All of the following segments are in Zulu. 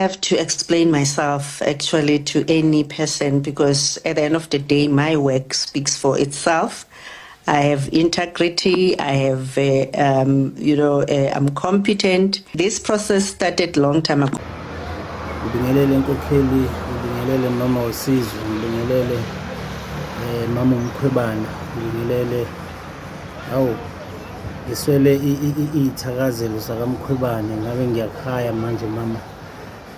have to explain myself actually to any person because at the end of the day, my work speaks for itself. I have integrity. I have, uh, um, you know, uh, I'm competent. This process started long time ago. ngibingelele enkokheli ngibingelele mama wesizwe ngibingelele um mama umkhwebana ngibingelele awu Ngiswele iy'thakazelo zakaMkhwebane ngabe ngiyakhaya manje mama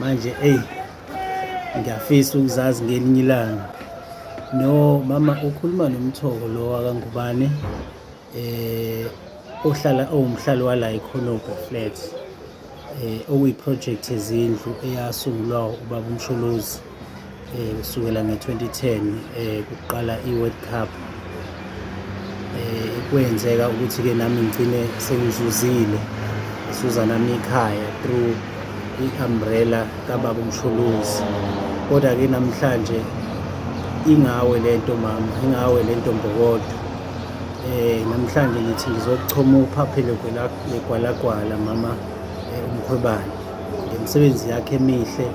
manje eyi ngiyafisa ukuzazi ngelinye ilanga no mama ukhuluma nomthoko lo wakangubane eh ohlala owumhlali wala ikhonobho flat eh, okuyiprojekthi yezindlu eyasungulwa ubaba umsholozi eh, kusukela nge-2010 eh, kuqala i-world cup eh, kwenzeka ukuthi-ke nami ngigcine sengizuzile ngisuza nami ikhaya through i-umbrella kababa umsholozi kodwa-ke namhlanje ingawe le nto mama ingawe le nto mbokodwa Eh namhlanje ngithi ngizochoma uphaphe legwalagwala mama eh, umkhwebane ngemisebenzi yakhe emihle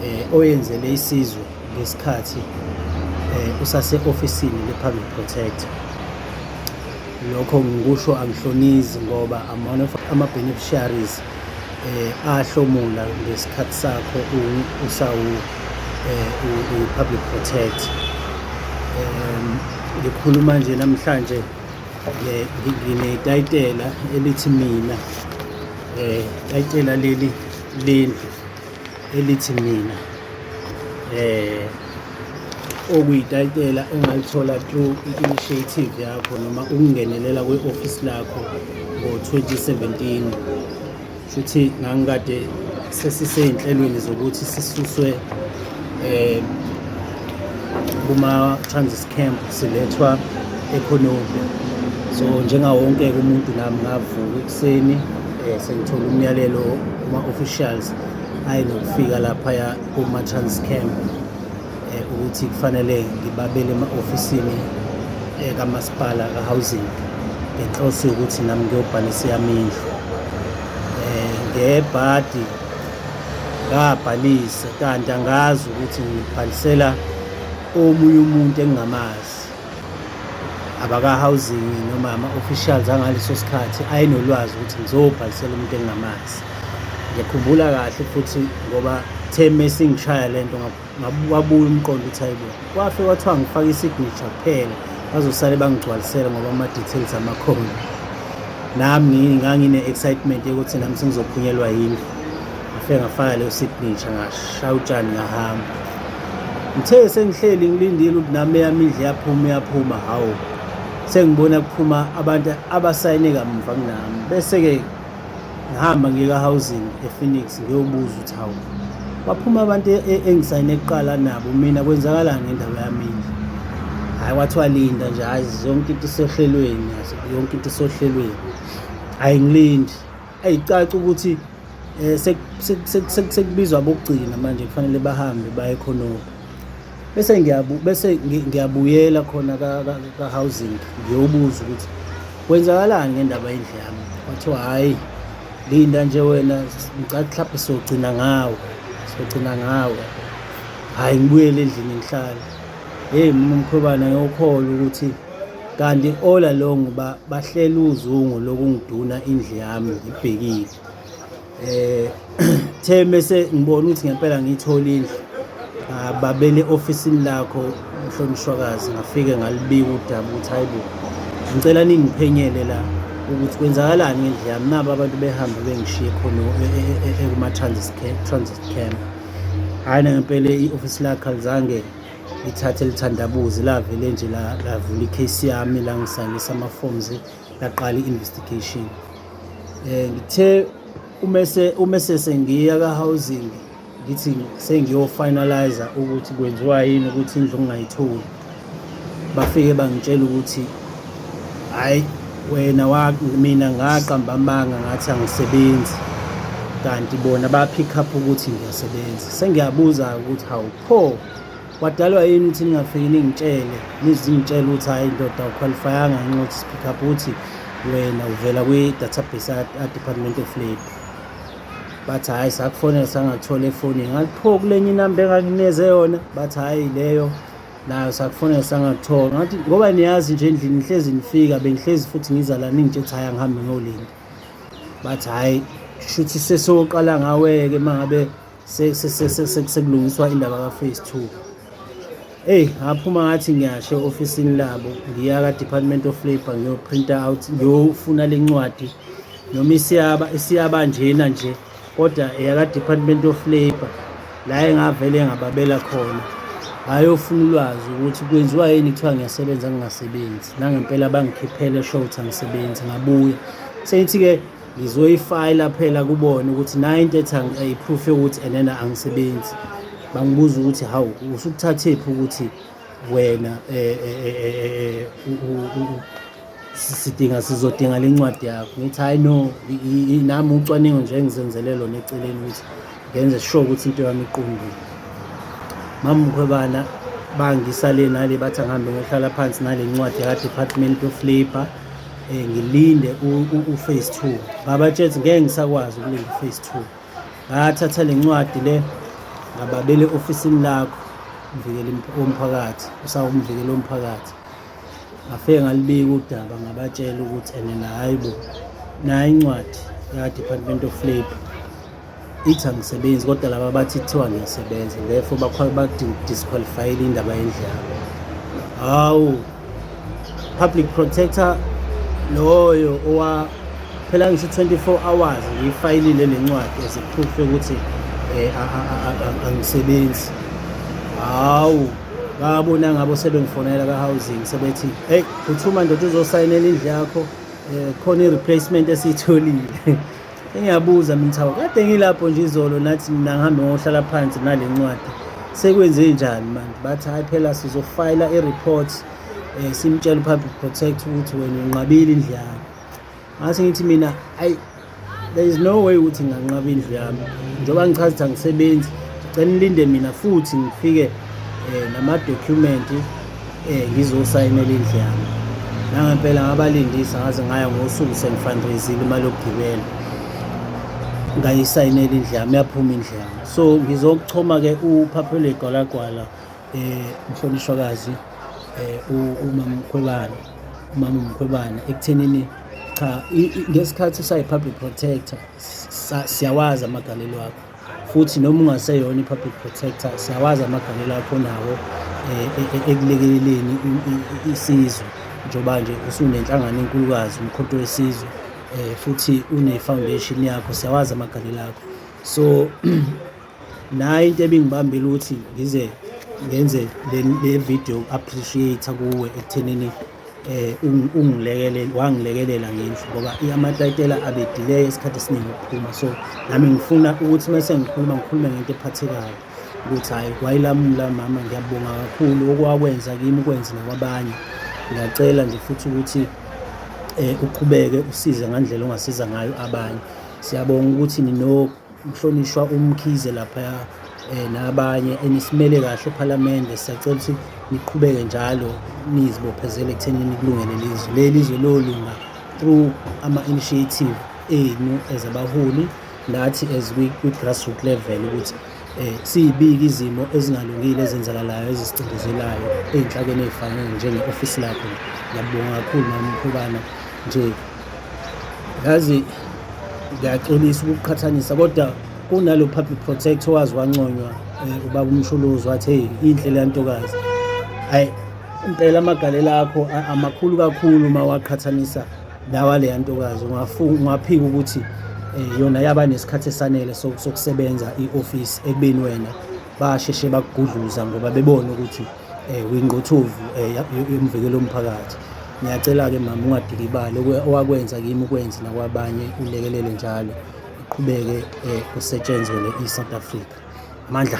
eh oyenzele isizwe ngesikhathi eh usase officeini lePublic Protector lokho ngikusho angihlonizi ngoba amona ama beneficiaries eh ahlomula ngesikhathi sakho usawu eh public protect um ngikhuluma nje namhlanje eh, nginetayitela elithi mina eh tayitela leli lendlu elithi mina eh okuyitayitela engalithola through i-initiative yakho noma ukungenelela kwe-ofisi lakho ngo-2017 shuthi ngangikade sesisey'nhlelweni zokuthi sisuswe um kuma-transis camp silethwa ekhononde so njengawo wonke-ke umuntu nami ngavuka ekuseni um sengithola umyalelo kuma-officials ayi nokufika laphaya kuma-trans camp um ukuthi kufanele ngibabele ema-ofisini um kamasipala ka-housing ngenhloso yokuthi nami ngiyobhalisa yami indlu um ngebhadi ngabhalisa kanti angazi ukuthi ngibhalisela omunye umuntu engingamazi abaka-housing noma ama-officials angaleso sikhathi ayenolwazi ukuthi ngizobhalisela umuntu engingamazi ngiyakhumbula kahle futhi ngoba the mesingishaya le nto wabuya umqondo ukuthi hayibo kwafe kwathiwa ngifake i-signature kuphela bazosale bangigcwalisele ngoba ama-details amakhona nami ngangine-excitement yokuthi nami sengizophunyelwa yindlu ngifike ngafaka leyo signature ngashaya utshani ngahamba ngithe sengihleli ngilindile ukuthi nami eyami indle yaphuma uyaphuma hawu sengibona kuphuma abantu abasayine kamuva kunami bese-ke ngihamba ngiyeka-housing ephoenix ngiyobuza ukuthi hawu baphuma abantu e-, e-, engisayine kuqala nabo mina kwenzakalani ngendawo yami indle hhayi kwathiwa linda nje hhayi yonke into isohlelweni yonke into isohlelweni hhayi ngilindi Ayicaci ukuthi eh, sekubizwa bokugcina manje kufanele bahambe baye khonoko bese ngiyabu bese ngiyabuyela khona ka housing ngiyobuza ukuthi kwenzakalani ngendaba yendle yami wathiwa hhayi linda nje wena ngicathi mhlawumbe sogcina ngawe sogcina ngawe hhayi ngibuyele endlini ngihlale heyi mkhwebana ngiyokholwa ukuthi Kanti all along ba bahlela uzungu lokungiduna indle yami ngibhekile eh the mese ngibona ukuthi ngempela ngiyithola indlu ah, babele ofisini lakho mhlonishwakazi ngafike ngalibika udaba ukuthi hayibo ngicela ningiphenyele la ukuthi kwenzakalani ngendle yami nabo abantu behambe bengishiye khona e, e, e, ekuma-transit camp hhayi nangempela i-ofisi lakhe alizange lithathe lithandabuze lavele nje lavula i-case yami la ngisayinisa ama-forms laqala i-investigation um ngithe umese umese sengiya ka-housing ngithi sengiyofinaliza ukuthi kwenziwa yini ukuthi indlu ngingayitholi bafike bangitshela ukuthi hhayi wena mina ngaqamba amanga ngathi angisebenzi kanti bona baphikha up ukuthi ngiyasebenza sengiyabuza-ke ukuthi hawu Pho wadalwa yini ukuthi ningafiki ningitshele nizingitshela ukuthi hhayi ndoda ukhwalifayanga ngenxa yokuthi sipick up ukuthi wena uvela kwi-database a-department of labour bathi hhayi sakufonela sangathola efonini ngathi pho kule nye inamba engakuneze yona bathi hhayi leyo nayo sakufonela sangathola ngathi ngoba niyazi nje endlini ngihlezi nifika bengihlezi futhi ngiza la ningitshe ukuthi hhayi angihambe ngolinda bathi hhayi shuthi sesoqala ngaweke uma ngabe sekulungiswa indaba ka-phase two eyi ngaphuma ngathi ngiyashe ofisini labo ngiya ka-department of labour ngiyoprinta out ngiyofuna le ncwadi noma isiyaba isiyaba njena nje kodwa eyaka-department of labour la engavele ngababela khona bayofuna ulwazi ukuthi kwenziwa yini kuthiwa ngiyasebenza ngingasebenzi nangempela bangikhiphele short angisebenzi ngabuya sengithi-ke ngizoyifayila phela kubona ukuthi nayo into ethi ayiproof yokuthi enena angisebenzi bangibuza ukuthi hawu usukuthathephi ukuthi wena eh, eh, eh, sidinga sizodinga le ncwadi yakho ngithi hayi no nami ucwaningo nje engizenzele lona eceleni ukuthi ngenze sure ukuthi into yami iqondile mama mkhwebana bangisale nale bathi angihambe ngiyohlala phansi nale ncwadi yaka-department of labour eh ngilinde u phase 2 baba tshezi ngeke ngisakwazi ukulinda u phase 2 ngathatha lencwadi le ngababele ofisini lakho mvikeli womphakathi usawumvikeli womphakathi ngafike ngalibika udaba ngabatshela ukuthi ene hayi bo nayo incwadi ya-department of labour ithi angisebenzi kodwa laba bathi kuthiwa ngiyasebenza therefore badisqualifyile indaba yendlala hawu public protector loyo owa phela ngisho 24 hours ngiyifayilile le ncwadi as a proof yokuthi eh, angisebenzi hawu babona ngabo sebengifonela ka-housing sebethi heyi phuthuma ndoda uzosayinela indlu yakho um khona i-replacement esiyitholile Ngiyabuza mina Thabo, kade ngilapho nje izolo nathi mina ngihambe ngohlala phansi nale ncwadi. Sekwenze njani manje? Bathi hayi phela sizofayila i-report eh simtshela uPublic Protect ukuthi wena unqabile indlu yakho. Ngase ngithi mina ayi there is no way ukuthi nganqaba indlu yami njengoba ngichaza ukuthi angisebenzi ngicela nilinde mina futhi ngifike eh nama document Eh ngizosayinela indlu yami. Nangempela ngabalindisa ngaze ngaya ngosuku sengifundraisile imali yokugibela. Ngayisayinela indlu yami yaphuma indlu yami. So ngizokuchoma ke uphaphele gwalagwala eh mhlonishwakazi eh umama Mkhwebane. Umama Mkhwebane ekuthenini cha ngesikhathi usayi public protector siyawazi amagalelo akho. futhi noma ungaseyona i-public protector siyawazi amagalelo akho nawo eh, e, e, ekulekeleleni isizwe njengoba nje usunenhlangano enkulukazi umkhonto wesizwe eh, futhi une-foundation yakho siyawazi amagalelo akho so nayo into ebingibambile ukuthi ngize ngenze le video appreciate kuwe ekuthenini um ungilekelele wangilekelela ngendlu ngoba amatayitela abedileya isikhathi esiningi ukuphuma so nami ngifuna ukuthi uma sengikhuluma ngikhulume ngento ephathekayo ukuthi hhayi kwayilamula mama ngiyabonga kakhulu okwakwenza kimi ukwenze nakwabanye ngiyacela nje futhi ukuthi um uqhubeke usize ngandlela ongasiza ngayo abanye siyabonga ukuthi nino Mhlonishwa uMkhize laphaya um nabanye enisimele kahle ephalamende siyacela ukuthi niqhubeke njalo nizibophezele ekuthenini kulungele lizwe leli zwe lolunga through ama-initiative enu as abaholi nathi as kwi-grassroot level ukuthi um siyibike izimo ezingalungile ezenzakalayo ezisicindezelayo ey'nhlakeni ey'fanele njenge-ofisi lakho ngiyabonga kakhulu mama umkhubana nje yazi ngiyaxolisa ukuqhathanisa kodwa kunalo public protector wazi wanconywa eh, ubaba umsholozi wathi hey inhle le ntokazi hayi impela amagalela akho amakhulu kakhulu uma waqhathanisa lawa le ntokazi ungaphika ukuthi eh, yona yaba nesikhathi esanele sokusebenza i-ofisi ekubeni wena basheshe bakugudluza ngoba bebona ukuthi eh, kwingquthuvu eh, yomvikelo womphakathi ngiyacela-ke mama ungadikibali owakwenza kimi ukwenzi nakwabanye ulekelele njalo iqhubeke um kusetshenzwe le-e-south africa amandla